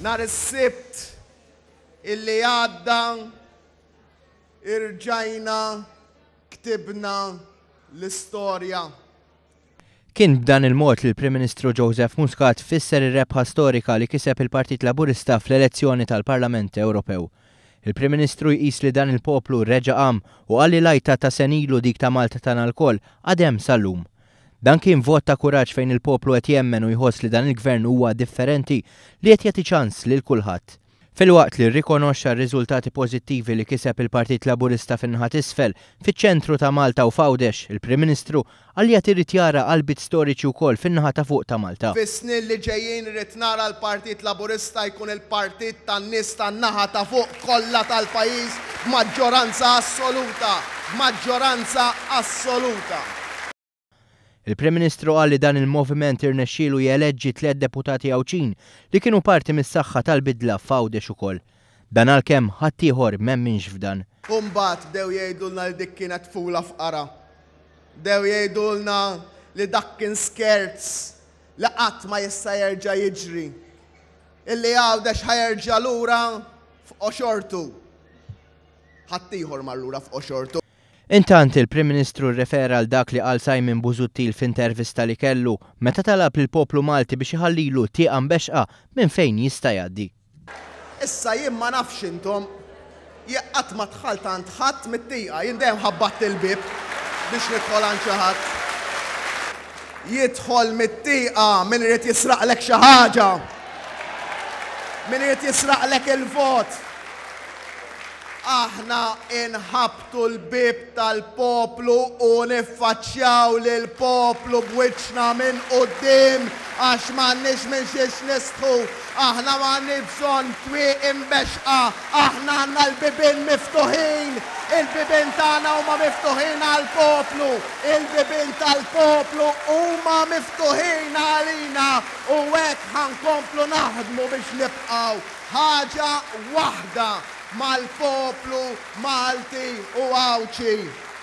Nhar is-Sibt illi għadda irġajna ktibna l-istorja. Kien b'dan il-mod li l-Prim Ministru Joseph Muscat fisser ir-rebħa storika li kiseb il-Partit Laburista fl-elezzjoni tal-Parlament Ewropew. Il-Prim Ministru jqis li dan il-poplu reġa' qam u qal li l-għajta ta' senilu dik ta' Malta tagħna lkoll għad hemm sal-lum. Dan kien vot ta' kuraġġ fejn il-poplu qed jemmen u jħoss li dan il-Gvern huwa differenti, li qed jagħti ċans lil kulħadd. Filwaqt li rrikonoxxa r-riżultati pożittivi li kiseb il-Partit Laburista fin-naħa t'isfel, fiċ-ċentru ta' Malta u f'Għawdex, il-Prim Ministru qal li għad irid jara qalbiet storiċi wkoll fin-naħa ta' fuq ta' Malta. Fis-snin li ġejjin irrid nara l-Partit Laburista jkun il-partit tan-nies tan-naħa ta' fuq kollha tal-pajjiż b'maġġoranza assoluta, b'maġġoranza assoluta. Il-Prim Ministru qal li dan il-moviment irnexxielu jeleġġi tliet deputati Għawdxin li kienu parti mis-saħħa tal-bidla f'Għawdex ukoll. Dan għalkemm ħaddieħor m'emminx f'dan. U mbagħad bdew jgħidulna li dik kienet tfula fqara. Bdew jgħidulna li dak kien skerz li qatt ma jista' jerġa' jiġri. Illi Għawdex ħa jerġa' lura f'qoxortu. Ħaddieħor mar lura f'qoxortu. Intant, il-Prim Ministru rrefera għal dak li qal Simon Busuttil f'intervista li kellu, meta talab lill-poplu Malti biex iħallilu tieqa mbexxqa minn fejn jista' jgħaddi. Issa jien ma nafx intom, jekk qatt ma dħalt għand ħadd mit-tieqa, jien dejjem ħabbatt il-bieb biex nidħol għand xi ħadd. Jidħol mit-tieqa min irid jisraqlek xi ħaġa, min irid jisraqlek il-vot. Aħna nħabbtu l-bieb tal-poplu u niffaċċjaw lill-poplu b'wiċċna minn quddiem għax m'għandniex minn xiex nistħu. Aħna m'għandniex bżonn twieq imbexxqa, aħna għandna l-bibien miftuħin. Il-bibien tagħna huma miftuħin għall-poplu, il-bibien tal-poplu huma miftuħin għalina u hekk ħa nkomplu naħdmu biex nibqgħu. Ħaġa waħda mal-poplu Malti u Għawdxi.